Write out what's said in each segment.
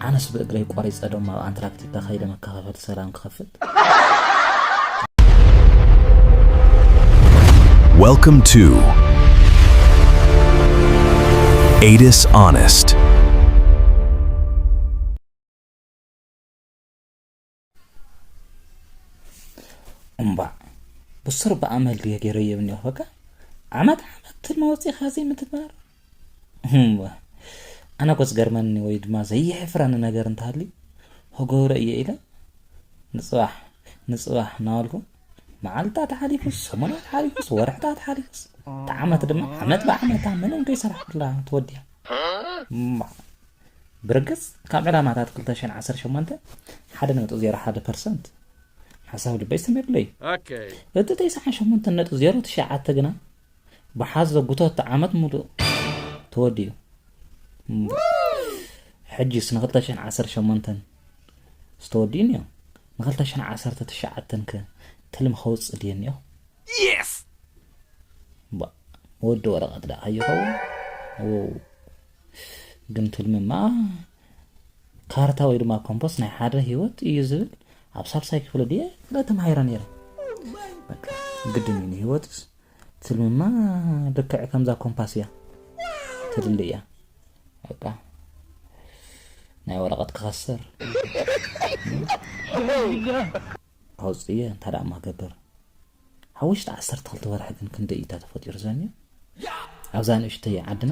ኣነስ ብእግረይ ቆሪፀ ዶም ኣብ ኣንትራክቲካ ከይደ መከፋፈልቲ ሰላም ክኸፍት። Welcome to Adis Honest. እምቧእ ብሱር ብኣመል ድየ ገይረዮ ይብል እኒኦ በቃ ዓመት ዓመት ትልሚ ወፂእኻ ዘይምትግባር ኣነ እኮ ዝገርመኒ ወይ ድማ ዘየሕፍረኒ ነገር እንተሃልዩ ክገብሮ እየ ኢለ ንፅባሕ ንፅባሕ እናበልኩ መዓልትታት ሓሊፉ ሰሙናት ሓሊፉስ ወርሕታት ሓሊፉስ እቲ ዓመት ድማ ዓመት ብዓመታ ምንም ከይሰራሕኩላ ተወዲያ ብርግጽ ካብ ዕላማታት ክልተ ሽሕን ዓሰርተ ሸሞንተ ሓደ ነጥቢ ዜሮ ሓደ ፐርሰንት ሓሳብ ልበይ ሰሚሩለይ እዩ። እቲ ተስዓን ሸሞንተን ነጥቢ ዜሮ ትሽዓተ ግና ብሓዞ ጉተት ዓመት ሙሉእ ተወዲኡ። ሕጂስ ንክልተ ሽሕን ዓሰርተ ሸሞንተን ዝተወድኡ እኒኦ ንክልተ ሽሕን ዓሰርተ ትሽዓተን ከ ትልሚ ከውፅእ ድየ እኒኦ ወዲ ወረቐት ደኣ ኣይኸውን እፍ ግን ትልሚ እማ ካርታ ወይ ድማ ኮምፖስ ናይ ሓደ ህይወት እዩ ዝብል ኣብ ሳልሳይ ክፍሊ ድየ ክለ ተማሂረ ነይረ በቃ ግድን እዩ ንህይወትስ ትልምማ ልክዕ ከምዛ ኮምፓስ እያ ትድሊ እያ በቃ ናይ ወረቐት ክኸስር ኣውፅየ እንታ ደኣ ማገብር ኣብ ውሽጢ ዓሰርተ ክልተ ወርሒ ግን ክንደይ እዩታ ተፈጢሩ ዘንዮ ኣብዛ ንእሽተይ ዓድና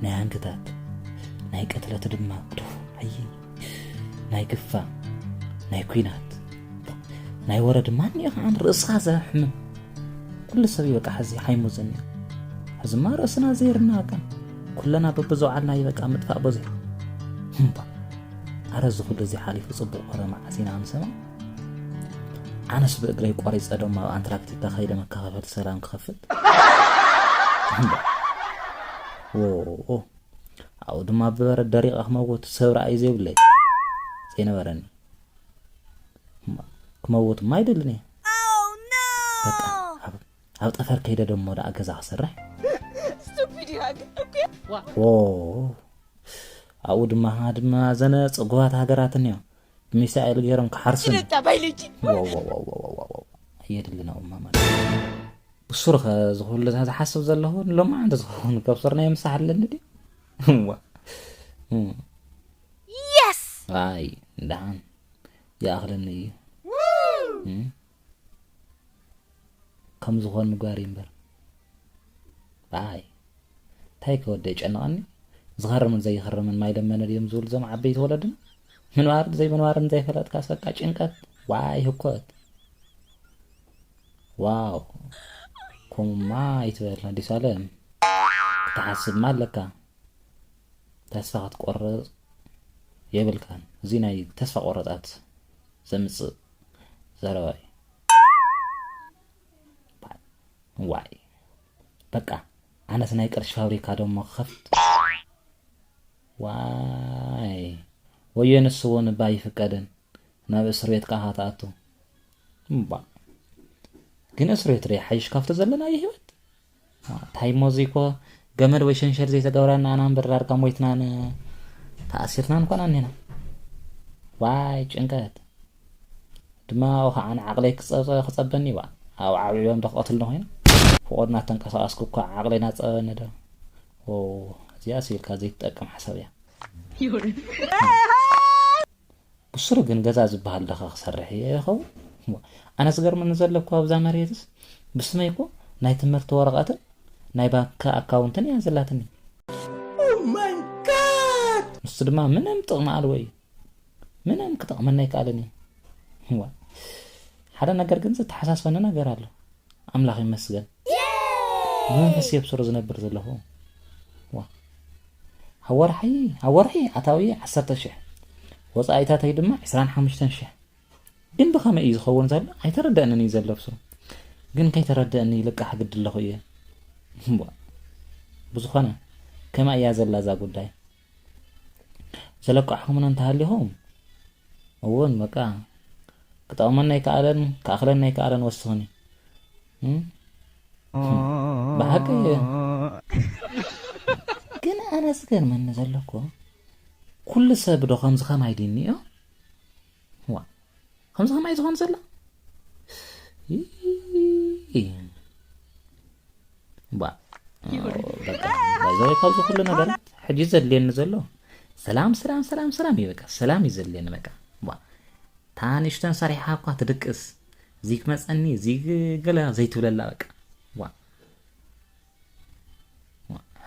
ናይ ሃንግታት ናይ ቅትለት ድማ ዱፍ ኣይ ናይ ግፋ ናይ ኩናት ናይ ወረ ድማ እኒኦ ከዓ ርእስኻ ዘሕምም ኩሉ ሰብ ይበቃ ሕዚ ሓይሙ ዘኒ ሕዝማ ርእስና ዘይርና በቃ ኩለና በብዘውዓልና ይበቃ ምጥፋእ በዚሑ እምባ ኣረ እዚ ኩሉ እዚ ሓሊፉ ጽቡቕ ወረ መዓስ ኢና ክንሰምዕ ኣነስ ብእግረይ ቆሪጸ ዶም ኣብ ኣንትራክቲካ ከይደ መከፋፈል ሰላም ክኸፍት ዎ ኣብኡ ድማ ብበረድ ደሪቐ ክመውት ሰብ ርኣይ ዘይብለይ ዘይነበረኒ ክመውት ማይደልን እየ በቃ ኣብ ጠፈር ከይደ ደሞ ደኣ ገዛ ክሰርሕ Stupid hag. Okay. ዋው ኣብኡ ድማ ድማ ዘነ ፅጉባት ሃገራት እኒኦ ብሚሳኤል ገይሮም ክሓርሱ እኒኦ። Diretta biology. ዋዋዋዋዋዋዋ የድሊ ናኡማ ማለት ብሱር ኸ ዝኹሉ እዛ ዝሓስብ ዘለኹ ሎማዓንቲ ዝኸውን ከብሱር ናይ ምሳሕ ኣለኒ ድዩ እዋ እም፣ Yes. ኣይ ደሓን ይኣኽለኒ እዩ እም፣ ከም ዝኾን ምግባር እዩ እምበር ብኣይ እንታይ ከ ወደይ ጨንቐኒ ዝኸርምን ዘይኸርምን ማይ ለመነ ድዮም ዝብሉ እዞም ዓበይቲ ወለድና ምንባርን ዘይምንባርን ዘይፈለጥካስ በቃ ጭንቀት ዋይ ህኮት ዋው ከምኡማ ይትበል ኣዲስ ኣለም ክትሓስብማ ኣለካ ተስፋ ክትቆርፅ የብልካን እዚ ናይ ተስፋ ቆረፃት ዘምፅእ ዘረባ እዩ ዋይ በቃ ኣነስ ናይ ቅርሺ ፋብሪካ ደሞ ክኸፍት ዋይ ወዮ ንሱ እውን እባ ይፍቀድን ናብ እስር ቤት ከዓ ትኣቱ እባ ግን እስር ቤት ዶ ይሓይሽ ካብቶ ዘለናዮ ህይወት ታይሞ እዙይ እኮ ገመድ ወይ ሸንሸል ዘይተገብራ ንኣና እምበር ዳርጋ ሞይትናን ተኣሲርናን ኮና እኒና ዋይ ጭንቀት ድማ ኣብኡ ከዓ ንዓቕለይ ክፀበኒ ዋ ኣብ ዓብዕቦም ዶ ክቐትልኒ ኮይኑ ፍቑድ እናተንቀሳቐስኩ እኳ ዓቕለይ ናፀበኒ ዶ እዚኣ ስኢልካ ዘይትጠቅም ሓሳብ እያ ብስሩ ግን ገዛ ዝበሃል ዶኸ ክሰርሕ እየ ይኸውን? ኣነ ዝገርመኒ ዘሎ እኮ ኣብዛ መሬትስ ብስመይ እኮ ናይ ትምህርቲ ወረቐትን ናይ ባንኪ ኣካውንትን እያ ዘላትኒ። ንሱ ድማ ምንም ጥቕሚ ኣልቦ እዩ ምንም ክጠቕመና ኣይከኣልን እዩ ሓደ ነገር ግን ዘተሓሳስበኒ ነገር ኣሎ ኣምላኽ ይመስገን ብመንፈስ የብስሮ ዝነብር ዘለኹ ዋ ኣብ ወርሒ ኣብ ወርሒ ኣታዊ ዓሰርተ ሽሕ ወፃኢታተይ ድማ ዕስራን ሓሙሽተን ሽሕ ግን ብኸመይ እዩ ዝኸውን ዘሎ ኣይተረደእንን እዩ ዘሎ ብስሩ ግን ከይተረደእኒ ይልቃሕ ግዲ ኣለኹ እየ ብዝኾነ ከመይ እያ ዘላ እዛ ጉዳይ ዘለቃሕኩምና እንተሃሊኹም እውን በቃ ክጠቕመና ኣይከኣለን ክኣኽለና ኣይከኣለን ወስኽኒ ብሓቂ ግን ኣነ ዝገርመኒ ዘለኩ ኩሉ ሰብ ዶ ከምዚ ከማይ ድንዮ ከምዚ ከማይ ዝኾን ዘሎ ባይዘወይ ካብዚ ኩሉ ነገር ሕጂ ዘድልየኒ ዘሎ ሰላም ሰላም ሰላም ሰላም እዩ በቃ ሰላም እዩ ዘድልየኒ በቃ እታ ንእሽተን ሰሪሓ እኳ ትድቅስ እዚ ክመፀኒ እዚ ገለ ዘይትብለላ በቃ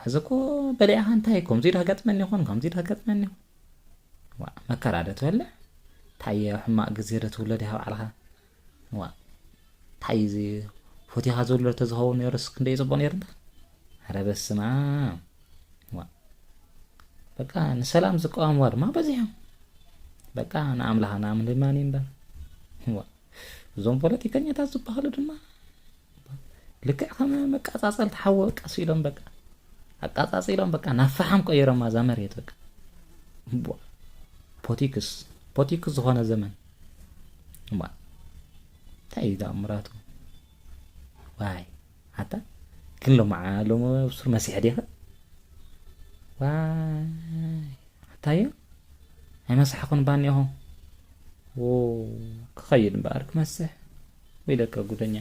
ሕዚ እኮ በሊዕኻ እንታይ ከምዚ ዶ ገጥመኒ ይኾን ከምዚ ዶ ገጥመኒ ይኾን ዋ መከራ ዶ ትበልዕ እንታይ ኣብ ሕማቕ ግዜ ዶ ትብሎ ዲኻ ባዕልኻ ዋ እንታይ እዚ ፎቲኻ ዝብሎ ተዝኸውን ነይሩስ ክንደይ ፅቡቕ ነይሩ እንዳ ኧረ በስመ ኣብ ዋ በቃ ንሰላም ዝቃወምዋ ድማ በዚሖም በቃ ንኣምላኽ ንኣምን ድማ እምበር ዋ እዞም ፖለቲከኛታት ዝበሃሉ ድማ ልክዕ ከም መቃጻጸልቲ ሓዊ በቃ ስኢሎም በቃ ኣቃጻጺሎም በቃ ናብ ፈሓም ቀይሮማ እዛ መሬት በቃ ፖቲክስ ፖቲክስ ዝኾነ ዘመን እማ እንታይ እዩ ተኣምራቱ ዋይ ኣታ ግን ሎማ ሎሚ ብሱር መሲሕ ዲኸ ዋይ ኣታዮ ኣይመሳሕኹን ባኒኹም ክኸይድ እምበኣር ክመስሕ ወይ ደቀ ጉደኛ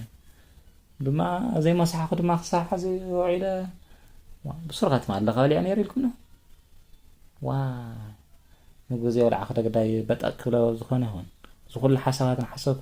ድማ ዘይመሳሕኹ ድማ ክሳብ ሕዚ ውዒለ ብሱርኻት ማለኻ በሊዐ ነይሩ ኢልኩምና ዋ ምግቢ ዘይበልዓ ክደግዳይ በጠቅ ክብለ ዝኾነ ይኹን እዚ ኩሉ ሓሳባት ንሓሰብኩ